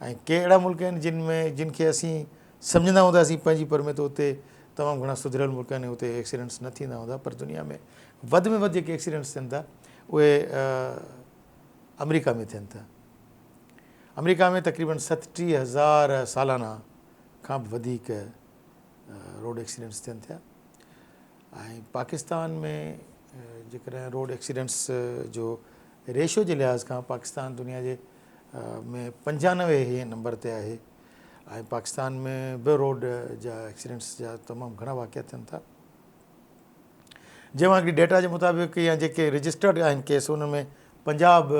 ۽ ڪي اهڙا ملڪ آهن جن ۾ جن کي اسين سمجهندا هونداسين پنهنجي پر ۾ ته اتي تمام گهڻا سڌريل ملڪ آهن ۽ اتي ايڪسيڊنٽس نه ٿيندا هوندا پر دنيا ۾ وڌ ۾ وڌ جيڪي ايڪسيڊنٽس ٿين ٿا اهي آمريڪا ۾ ٿين ٿا آمريڪا ۾ تقريبن ستٽيهه هزار سالانه کان به وڌيڪ روڊ ايڪسيڊنٽس ٿين ٿيا ۽ پاڪستان ۾ جيڪڏهن روڊ ايڪسيڊنٽس جو ريشو جي لحاظ کان پاڪستان دنيا جي ۾ پنجانوي هين نمبر تي آهي ۽ پاڪستان ۾ به روڊ جا ايڪسيڊنٽس جا تمام گهڻا واقعا ٿين ٿا جنهن مان هڪڙي ڊيٽا جي مطابق يا جيڪي رجسٽرڊ آهن ڪيس ان ۾ پنجاب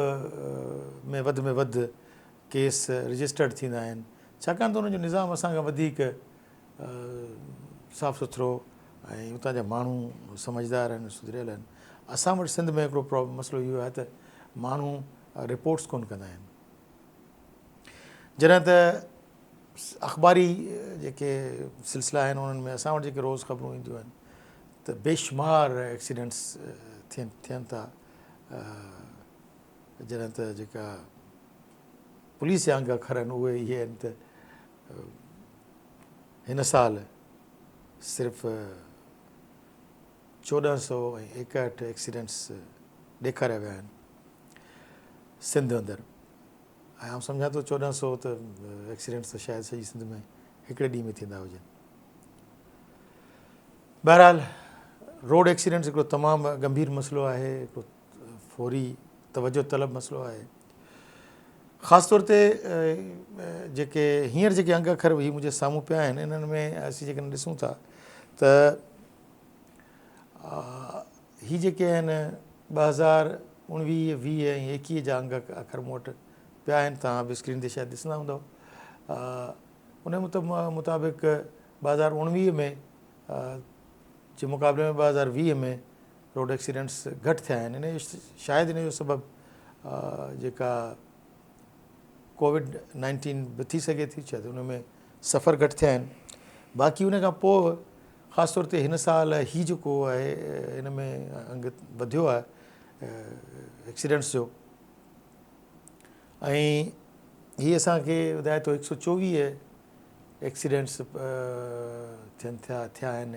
۾ وڌ ۾ وڌ ڪيس رجسٽرڊ ٿيندا آهن ڇاڪاڻ ته ان جو نظام اسان کان وڌيڪ صاف سٿرو ۽ اتان جا ماڻهو سمجهدار آهن سڌريل آهن اسان وٽ سنڌ ۾ هڪڙو مسئلو اهو آهي ته ماڻهو رپورٽس ڪونه ڪندا آهن جڏهن ته اخباري جيڪي سلسلا آهن انهن ۾ اسان وٽ جيڪي روز خبرون اينديون آهن ته بيشمار ايڪسيڊنٽس ٿين ٿين ٿا جڏهن ته جيڪا پوليس جا انگ اکر آهن اهي اهي آهن ته هن سال صرف چوڏهن سؤ ۽ ايڪهٺ ايڪسيڊنٽس ڏيکاريا ويا آهن سنڌ اندر ۽ آئون سمجهان ٿو چوڏهن سؤ ته ايڪسيڊنٽس ته شايد سڄي سنڌ ۾ هڪڙي ڏينهن ۾ ٿيندا هجن بهرحال روڊ ايڪسيڊنٽس هڪڙو تمام گنڀير مسئلو آهي فوري توجه طلب مسئلو آهي خاص طور تي جيڪي هينئر جيڪي انگ اکر هي منهنجي سامهون پيا آهن انهن ۾ اسين جيڪڏهن ڏسون ٿا ته هي جيڪي آهن ٻه هزار اڻويهه ويهه ۽ ايڪيهه جا انگ اکر مون وٽ پيا آهن توهان به اسڪرين تي شايد ڏسندا هوندو ان مطابق ٻه هزار اڻويهه ۾ جي مقابلي ۾ ٻه هزار ويهه ۾ روڊ ايڪسيڊنٽس گهٽ ٿيا آهن ان جو شايد ان جو سبب جيڪا ڪووڊ نائنٽين به ٿي سگهي ٿي شايد ان ۾ سفر گهٽ ٿيا آهن باقي ان کان پوء خاص طور تي هن سال هي جيڪو آهي ان ۾ انگ وڌيو آهي ايڪسيڊنٽس جو ۽ هي اسان کي ٻڌائي ٿو هڪ سؤ چوويهه ايڪسيڊنٽس ٿين ٿيا ٿيا آهن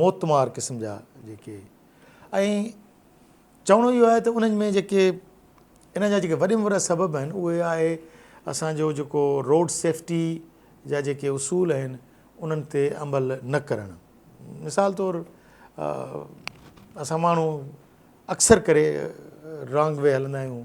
موتمار قسم جا جيڪي ۽ چوڻو اهو آهي ته انهن ۾ جيڪي ان جا جيڪي وڏي ۾ وڏا سبب آهن اهي آهي اسان جو جيڪو روڊ سيفٽي جا جيڪي اصول آهن انهن تي عمل نه ڪرڻ مثال طور اسان ماڻهو اڪثر ڪري رانگ وي هلندا آهيون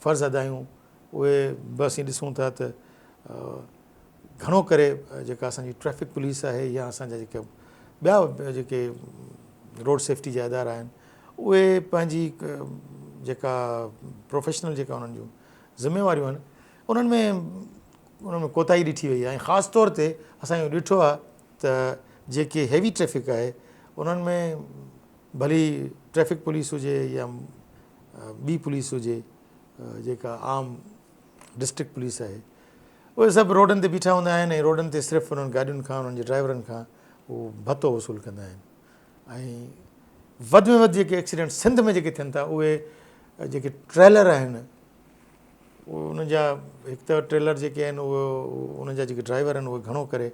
فرض ادا آهيون اهي به اسين ڏسون ٿا ته گهڻو ڪري جيڪا اسان جي ٽريفڪ پوليس آهي يا اسان جا جيڪا ٻيا جيڪي روڊ سيفٽي جا ادارا آهن اهي پنهنجي جيڪا پروفيشنل جيڪا انهن جون ذميواريون آهن انهن ۾ انهن ۾ ڪوتاهي ڏٺي وئي آهي خاص طور تي اسان اهو ڏٺو آهي ته جيڪي هيوي ٽريفڪ آهي انهن ۾ ڀلي ٽريفڪ پوليس هجي يا ٻي پوليس هجي جيڪا عام ڊسٽرڪٽ پوليس آهي اهي سڀ روڊن تي بيٺا هوندا آهن ۽ روڊن تي صرف انهن گاڏين کان انهن جي ڊرائيورن کان هو ڀتو وصول ڪندا آهن ۽ وڌ ۾ وڌ جيڪي ايڪسيڊنٽ سنڌ ۾ جيڪي ٿين ٿا اهي جيڪي ٽريلر آهن انهن جا هڪ ته ٽريلر جيڪي آهن اهو انهن جا جيڪي ڊرائيور آهن اهي گهڻو ڪري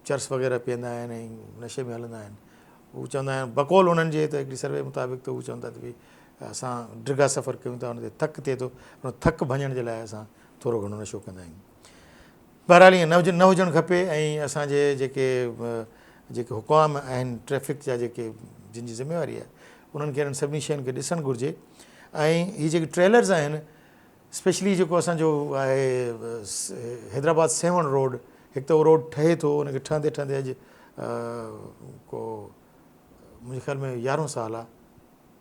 چرس وغيره پيئندا آهن ۽ نشي ۾ هلندا آهن هو چوندا آهن بقول انهن جي ته هڪڙي سروي مطابق ته هو چون ٿا ته ڀي اسان ڊگها سفر ڪيون ٿا ان تي ٿڪ ٿئي ٿو ان ٿڪ ڀڃڻ جي لاء اسان ٿورو گهڻو نشو ڪندا آهيون بهرحال ائين نه نه هجڻ کپي ۽ اسان جي جيڪي جيڪي حڪام آهن ٽريفڪ جا جيڪي جن جي ذميواري آهي انهن کي انهن سڀني شين کي ڏسڻ گهرجي ۽ هي جيڪي ٽريلرز آهن اسپيشلي جيڪو اسان جو آهي حيدرآباد سيوهڻ روڊ هڪ ته اهو روڊ ٺهي ٿو ان کي ٺهندي ٺهندي اڄ ڪو منهنجي خيال ۾ يارهون سال آهي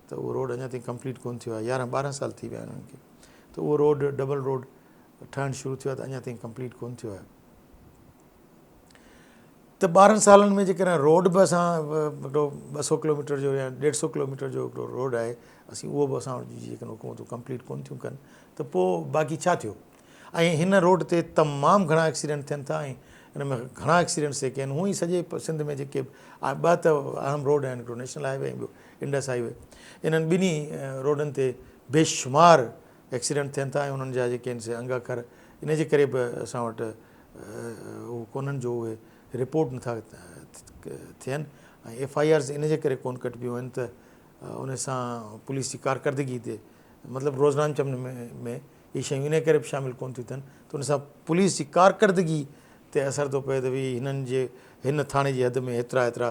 ته اهو روڊ اڃا تائين ڪمپليٽ ڪونه ٿيو آهي يارهن ٻارهن سال ٿي ويا آهن انهن کي ته اهو روڊ ڊبل روڊ ٺهڻ شروع ٿيو آهي ته اڃا تائين ڪمپليٽ ڪونه ٿيو آهي ته ٻارهن سالن ۾ جيڪڏهن روڊ به اسان هڪڙو ٻه سؤ ڪلوميٽر جو يا ڏيڍ سؤ ڪلوميٽر جو هڪڙو روڊ آهي اسين اهو به اسان وٽ جيڪڏهن حڪومتون ڪمپليٽ ڪونه ٿيون ڪن ته پوء باقي ڇا ٿيو ۽ هن روڊ تي تمام گهڻا ايڪسيڊنٽ ٿين ٿا ۽ ان ۾ گهڻا ايڪسيڊنٽس جيڪي آهن هونئن سڄي سنڌ ۾ جيڪي ٻه ته اهم روڊ آهن هڪڙو نيشنل هاء وي ۽ ٻيو انڊس هاء وي انهن ٻنهي روڊن تي بيشمار ايڪسيڊنٽ ٿين ٿا ۽ انهن جا جيڪي آهن سي انگ اکر ان جي ڪري به اسان وٽ اهو ڪونهن جو اهي رپورٽ نٿا ٿين ۽ ايف آء آرز ان جي ڪري ڪون ڪٽبيون آهن ته ان سان پوليس جي ڪارڪردگي تي مطلب روزنان چمن ۾ اهي شيون ان ڪري به شامل ڪون ٿيون ٿين ته ان سان پوليس جي ڪارڪردگي تي اثر ٿو پئي ته وي هنن جي هن ٿاڻي جي حد ۾ هيترا هيترا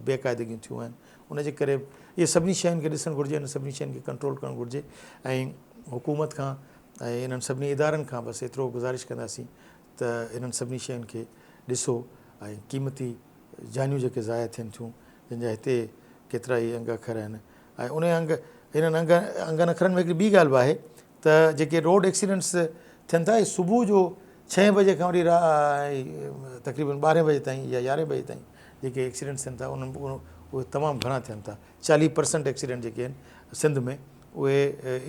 بيقاعدگيون ٿيون آهن ان جي ڪري اهي سڀني شين کي ڏسڻ گهرجي ان سڀني شين کي ڪنٽرول ڪرڻ گهرجي ۽ حڪومت کان ۽ انهن سڀني ادارن کان بس ايترو گذارش ڪنداسين ته انهن سڀني شين کي ڏسو ۽ قيمتي جانيون جيڪي ضايع ٿين ٿيون جن جا هتي ڪيترائي انگ اکر آهن ۽ انهن انگ انهن انگ انگن اکرن ۾ هڪڙي ٻي ڳالهه به آهي ته جيڪي روڊ ايڪسيڊنٽس ٿين ٿا اهي صبح جو ڇهين بجي کان وٺي تقريبن ٻارهين بجي تائين يا يارهين بجي تائين جيڪي ايڪسيڊنٽس ٿين ٿا انهن ۾ اهي تمام گهڻا ٿين ٿا چاليهه پرسنٽ ايڪسيڊنٽ جيڪي آهن سنڌ ۾ اهي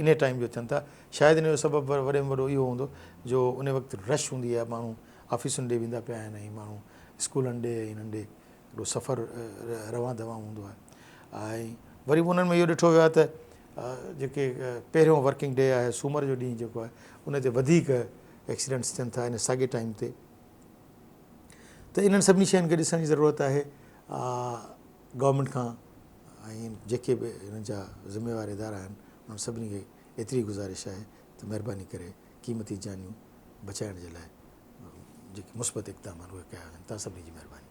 ان ٽائيم جو ٿين ٿا شايد ان جو سبب وڏي ۾ وڏو اهو هوندو جو ان وقت رش هوندي آهي ماڻهو آفيسن ڏي ويندا پيا آهن ۽ ماڻهو اسڪولن ڏي ۽ انهن ڏي هيڏو سفر روان دوان هوندو آهي ۽ وري به انهن ۾ اهو ڏٺو ويو آهي ته جيڪي پهريون ورڪنگ ڊي آهي سومر جو ڏينهن جيڪو آهي ان تي وڌيڪ ايڪسيڊنٽس ٿين ٿا ان ساڳي ٽائيم تي ته انهن سڀني شين کي ڏسڻ جي ضرورت آهي گورنمنٽ کان ۽ جيڪي به هن جا ذميوار ادارا آهن انهن سڀني کي ايتري گزارش آهي ته مهرباني ڪري قيمتي جانيون بچائڻ جي لاء جيڪي مثبت اقدام آهن اهي ڪيا وڃن توهان سڀني جي مهرباني.